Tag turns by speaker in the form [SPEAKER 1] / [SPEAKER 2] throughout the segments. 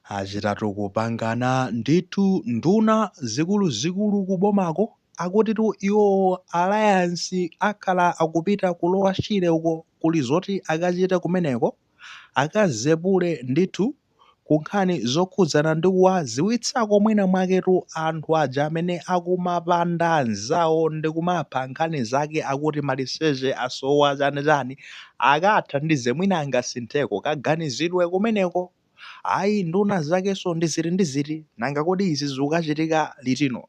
[SPEAKER 1] Achitatu kupangana ndithu nduna zikuluzikulu ku bomako akutitu iwowo alliance akhala akupita ku lower Shire uko kuli zoti akachite kumeneko akazepule ndithu ku nkhani zokhudzana ndi kuwadziwitsako mwina mwaketu anthu aja amene akumapanda anzawo ndi kumapha nkhani zake akuti maliseche asowa chani chani Akathandize mwina angasintheko kaganizidwe kumeneko. Ayi nduna zakenso ndi ziti ndi ziti nanga kodi izi zikukachitika litino?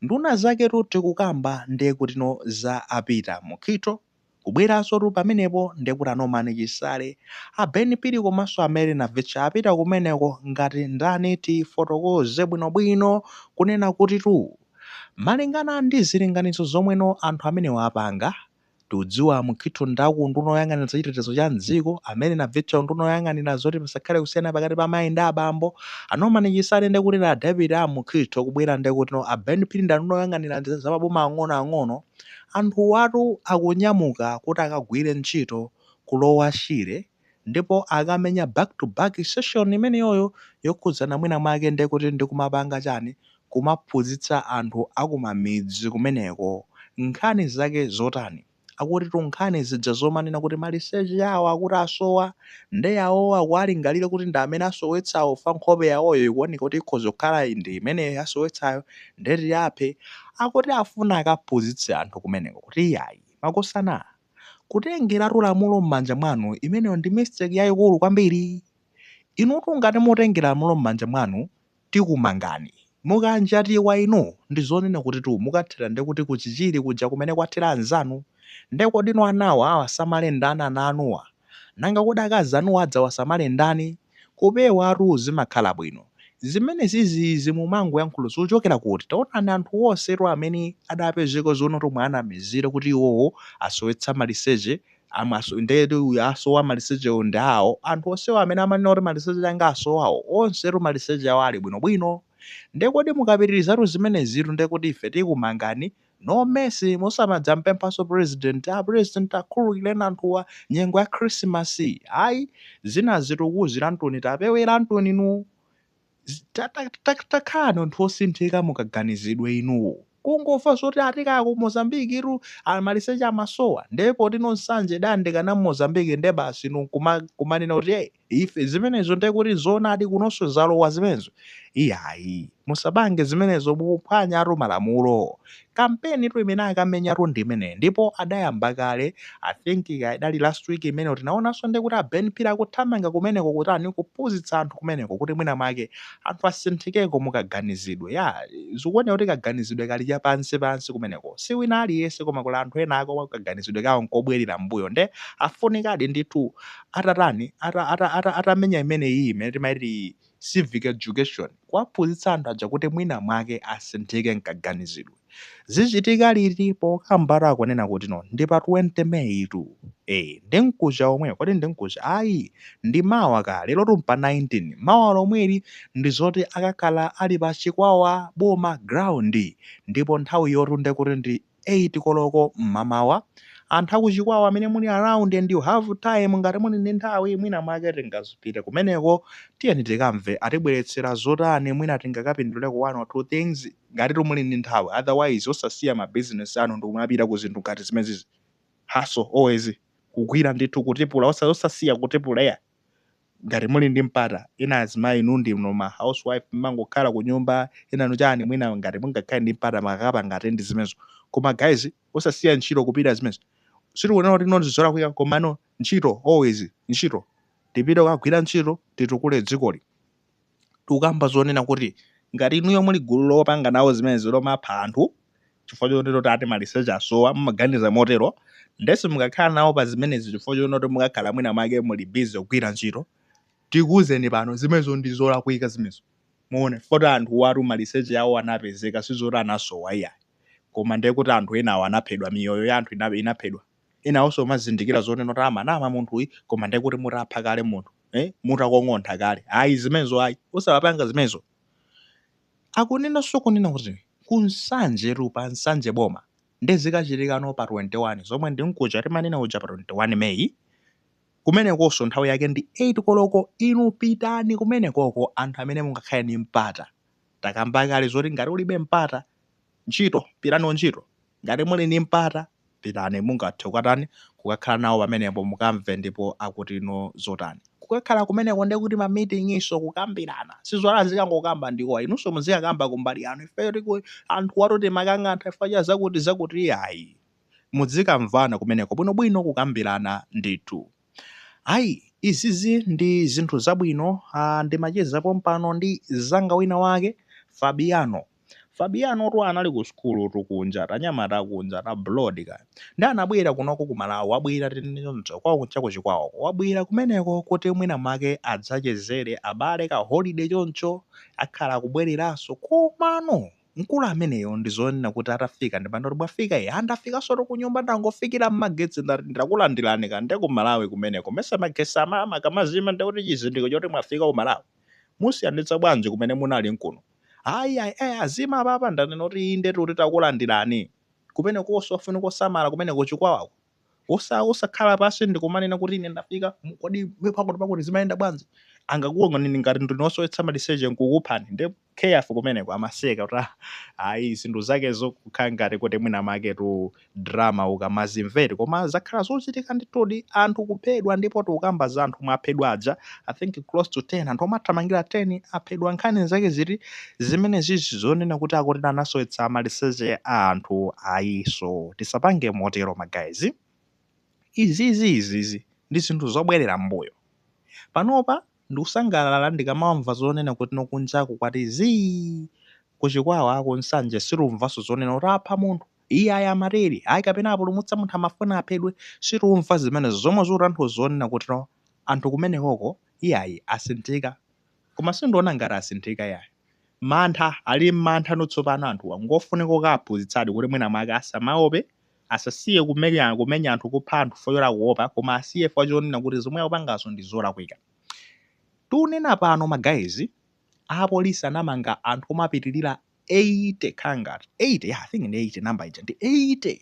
[SPEAKER 1] Nduna zaketu tikukamba ndekutino za a Peter Mukhitho kubweransotu pamenepo ndekuti a Norman Chisale, a Ben Phiri komanso a Mary Navicha apita kumeneko ngati ndani tifotokoze bwino bwino kunena kutitu malingana ndi zilinganizo zomwe anthu amenewa apanga Tikudziwa a Mukhitho ndi a ku unduna woyang'anira za chitetezo cha m'dziko, a Mary Navicha unduna woyang'anira zoti pasakhale kusiyana pakati pa amayi ndi abambo, a Norman Chisale ndekutino a deputy a Mukhitho kubwera ndekutino a Ben Phiri ndi anduna woyang'anira za maboma ang'onoang'ono, anthuwatu akunyamuka kuti akagwire ntchito ku Lower Shire. ndipo akamenya back to back session imeneyoyo yokhudzana mwina mwake ndiye kuti ndi kumapanga chani, kumaphunzitsa anthu akumamidzi kumeneko nkhani zake zotani, akutitu nkhani zija zomanena kuti maliseche awo akuti asowa nde yawowo akuwalingalira kuti ndi amene asowetsawo chifukwa nkhope yawoyo ikuoneka kuti ikhoza kukhala ndi imene yasowetsayo nde tiaphe, akuti afuna akaphunzitse anthu kumeneko kuti iyayi, makosana. Kutengeratu lamulo m'manja mwanu, imeneyo ndi mistake yaikulu kwambiri. Inutu ngati mutengera lamulo m'manja mwanu, tikumangani. Mukanjatidwa inu, ndi zonena kutitu mukathera ndiye kuti ku Chichiri kuja kumene kwathera anzanu. Ndiye kodi inu ana awasamale ndani ana anuwa? Nanga kodi akazi anuwo adzawasamale ndani? Kupewatu zimakhala bwino. Zimenezizi mumangoyankhula zikuchokera kuti? Taonani anthu onsetu amene adapezeka zonotu omwe anamizira kuti iwowo asowetsa maliseche am, as, ndetu uyu asowa malisechewo ndi awo. Anthu onsewo amene amanena kuti maliseche anga asowawo onsetu maliseche awo ali bwinobwino. Nde kodi mukapitirizatu zimenezitu ndekuti ife tikumangani? No mercy musamadzapemphenso president a president akhululukireni anthuwa nyengo ya khrisimasi ayi zinazi tikuuziranitu tapeweranituni inu takhalani anthu osinthika mukaganizidwe inu kungomva zoti ati kaya ku Mozambique tu amaliseche amasowa nde poti ku Nsanje idayandikana ndi Mozambique nde basi inu nkumanena kuti hey Ife zimenezo ndiye kuti zoonadi kunonso zalowa zimenezo? Iyayi, musapange zimenezo mukuphwanyatu malamulo. Kampeni tu imene akamenya tu ndi imeneyo ndipo adayamba kale, I think idali last week imene tinaonanso ndiye kuti a Ben Phiri akuthamanga kumeneko kutani kuphunzitsa anthu kumeneko kuti mwina mwake anthu asinthikeko mu kaganizidwe. Yaa, zikuoneka kuti kaganizidwe kali cha pansi pansi kumeneko. Si wina aliyense koma kuli anthu ena komwe kaganizidwe kawo nkobwelera mmbuyo ndiye afunikadi ndithu atatani, atamenya imeneyi imene timaiti civic education, kuwaphunzitsa anthu aja kuti mwina mwake asinthike m'kaganizidwe. Zichitika liti? Pokambatu akunena kuti no, ndi pa 20 May tu. Ee, ndi mkuja womwe. Kodi ndi mkuja? Ayi, ndi mawa kaya. Lero tu mpa 19. Mawa lomweli ndi zoti akakhala ali pa Chikwawa Boma Ground ndipo nthawi yotu nde kuti ndi 8 koloko mmamawa. Anthu aku Chikwawa amene muli around and you have time ngati muli ndi nthawi mwina mwake tingazipite kumeneko tiyeni tikamve atibweretsera zotani mwina tingakapinduleko 1 or 2 things ngatitu muli ndi nthawi otherwise osasiya ma business anu ndikumapita ku zinthu ngati zimenezizi hustle always kugwira ndithu kutipula osasiya kutipulea. ngati muli ndi mpata ena azimayi inu ndinu ma housewife mmangokhala kunyumba enanu chani mwina ngati mungakhale ndi mpata mukakapanga attend zimenezo koma guys osasiya ntchito kupita zimenezo sitikunena kuti ndi zolakwika komano ntchito always ntchito tipite kukagwira ntchito titukule dzikoli tikukamba zonena kuti ngati inuyo muli gulu lopanga nawo zimenezi lomapha anthu chifukwa chonena kuti ati maliseche asowa, mumaganiza motero, nde simukakhala nawo pa zimenezi chifukwa chonena kuti mukakhala mwina mwake muli busy kugwira ntchito, tikuuzeni pano zimenezo ndi zolakwika zimenezo mwaona chifukwa choti anthuwatu maliseche awo anapezeka sizoti anasowa iyayi koma ndekuti anthu enawo anaphedwa, miyoyo ya anthu inaphedwa. enawonso nkumazindikira zonena kuti amanama munthuyi koma ndiye kuti mutapha kale munthu eh? mutakong'ontha kale ayi zimenezo ayi osamapanga zimenezo akunenanso kunena kuti ku Nsanje tu pa Nsanje boma nde zikachitikano pa 21 zomwe ndi mkuja timanena uja pa 21 meyi kumenekonso nthawi yake ndi 8 koloko inu pitani kumenekoko anthu amene mungakhale ndi mpata takamba kale zoti ngati ulibe mpata ntchito pitani ku ntchito Ngati muli ndi mpata, pitani. Mungathe kukatani? Kukakhala nawo pamenepo, mukamve ndipo akuti no zotani. Kukakhala kumeneko ndiye kuti ma meeting nso, kukambirana. Sizoona azikangokamba ndi iwowa. Inunso muzikakamba kumbali yanu. Ife anthuwatu timawakang'antha chifukwa cha zakuti zakuti iyayi. Muzikamvana kumeneko bwinobwino, kukambirana ndithu. Ayi, izizi ndi zinthu zabwino. Ah, ndimacheza pompano ndi mzanga wina wake, Fabiano. Fabianotu anali ku sukulutu kunja tanyamata kunja ta blood ka ndi anabwera kunoko ku Malawi wabwera tinene choncho kwao kuja ku Chikwawako wabwera kumeneko kuti mwina mwake adzachezere abale ka holiday choncho akhala akubwereranso komano mkulu ameneyo ndi zonena kuti atafika ndipano kuti mwafika ee a ndafikansotu kunyumba ndangofikira mmagetsi ndati ndakulandiranika nde ku Malawi kumeneko mmesa magetsi ama akamazima ndekuti chizindikiro choti mwafika ku Malawi musiyanitsa bwanji kumene munali n'kuno Ayi, ayi, ayi, azima apapa, ndanena kuti inde kuti takulandirani. Kumenekonso kofunika kusamala kumeneko chikwawako. Osa, osakhala pansi ndikumanena kuti ine ndafika, mu- kodi iwe pakuti pakuti zimayenda bwanji? Angakuoneni ngati ndinu osowetsa maliseche nkukuphani. Nde careful kumeneko, amaseka kuti ah, ayi zinthu zakezo zokukhala ngati kuti mwina mwaketu drama ukamazimvera koma zakhala zochitika ndithudi anthu kuphedwa ndipo tikukamba za anthu omwe aphedwa aja i think close to 10 anthu omwe athamangira 10 aphedwa nkhani zake ziti zimene zizi zonena kuti akuti anasowetsa maliseche a anthu ayinso tisapange motero magayizi izizi izizi ndi zinthu zobwerera mbuyo panopa ndikusangalala ndikamamva zonena kuti no kujaku kwati zii kuchikwawa kunsanje situmvanso zonena kuti apha munthu Iyayi amatere, ayi kapena apulumutsa munthu amafuna aphedwe, situmva zimene zomwe zikutanthauza zonena kuti no anthu kumenekoko iyayi asinthika koma sindiona ngati asinthika iyayi mantha ali mmantha no tsopano anthuwa ngofunika kukawaphunzitsadi kuti mwina mwake asamaope asasiye kumenya kumenya anthu kupha anthu fo choti akuopa koma asiye fukwa chonena kuti zomwe akupangazo ndi zolakwika tunena pano ma guys apolisi anamanga anthu omapitilira 80 kangati 80 ya i think ndi 80 number ija ndi 80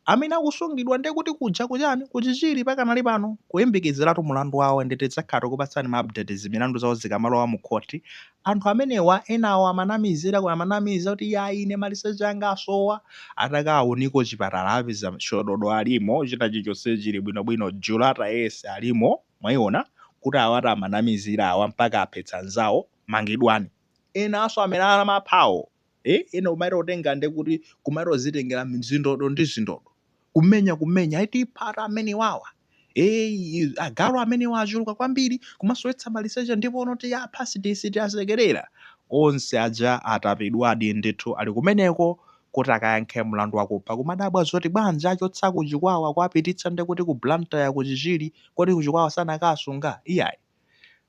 [SPEAKER 1] amene akusungidwa ndiye kuti kuja kuchani kuchichiri pakanali pano kuyembekezeratu mulandu wawo ndi tidzakhala tikupatsani ma update za milandu zawo zikamalowa mu khoti anthu amenewa enawo amanamizira ku- amanamiza kuti ya ine maliseche anga asowa atakawaunika kuchipatala apeza shododo alimo china chilichonse chili bwinobwino Jula tayese alimo mwayiona kuti awatu amanamizira awa mpaka aphetsa anzawo mangidwani enanso amene amaphawo eh, ena kumachita kutenga nde kuti kumachita kudzitengera zindodo ndi zindodo kumenya kumenya eti iphani amenewa awa eh, agalu amenewa achuluka kwambiri kumasowetsa maliseche ndipo no tiwapha sitiwasekerera onse aja atapidwadi ndithu ali kumeneko kuti akayankhe mlandu wakupha kumadabwa zoti bwanji achotsa kuchikwawa kuwapititsa nde kuti ku blantyre kuchichiri kodi kuchikwawa sanakawasunga iyayi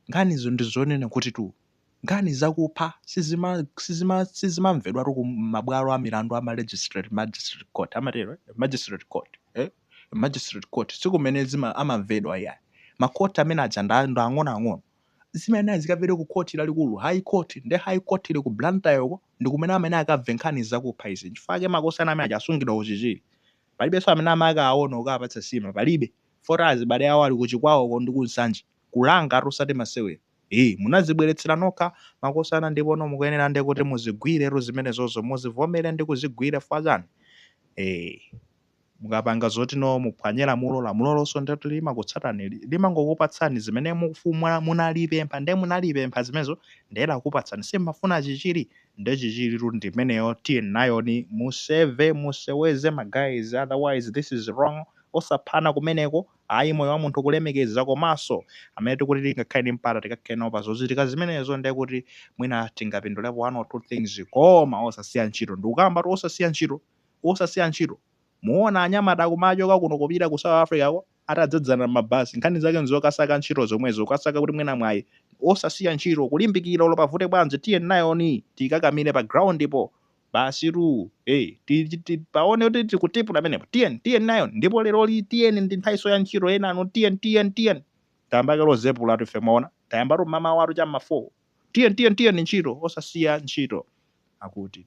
[SPEAKER 1] nkhanizo ndizonena kutitu Nkhani zakupha sizimamvedwatu ku mabwalo a milandu a magistrate, magistrate court amatero eti? Magistrate court eh? Magistrate court sikumene amamvedwa iyayi. Ma court amene aja ndi ang'ono ang'ono. Zimayenera zikamvedwe ku court lalikulu, high court. Nde high court ili ku Blantyre uko ndi kumene amayenera akamve nkhani zakupha izi. Nchifukwa chake makosana amene aja asungidwa ku Chichiri. Palibenso amene amakawaona kukawapatsa nsima, palibe. Chifukwa choti azibale awo ali ku Chikwawa uko ndi ku Nsanje. Kulangatu osati masewera. Hi munazibweretsera nokha makosana ndipono mukuyenera nde kuti muzigwiretu zimenezozo muzivomere ndi kuzigwira chifukwa chani ee mukapanga zoti inu muphwanye lamulo lamulolonso nde kuti limakutsatani li- limangokupatsani zimene mukufu- mwa- munalipempha nde munalipempha zimenezo nde lakupatsani si mmafuna chichiri nde chichiritu ndi imeneyo tiye nayoni museve museweze ma guys otherwise this is wrong osaphana kumeneko Ayi moyo wa munthu kulemekeza komaso amene tikuti tingakhale ndi mpata tikakhale nawo pa zochitika zimenezo nde kuti mwina tingapindulepo 1 or 2 things koma osasiya ntchito ndikukambatu osasiya ntchito osasiya ntchito muona anyamata akumachoka kuno kupita ku south africa ko atadzadzana mmabasi nkhani zake nzokasaka ntchito zomwezo kukasaka kuti mwina mwayi osasiya ntchito kulimbikira olo pavute bwanji tiye nayoni tikakamire pa ground po Basitu, hey, ti- ti- ti- paone kuti tikutipula pamenepo. Tiyeni, tiyeni nayo. Ndipo leroli tiyeni ndi nthawiso ya ntchito enanu, tiyeni, tiyeni, tiyeni. Tayamba kale kuzepulatu ife mwaona. Tayambatu mmamawatu cha mma 4. Tiyeni, tiyeni, tiyeni ntchito, osasiya ntchito. Akuti.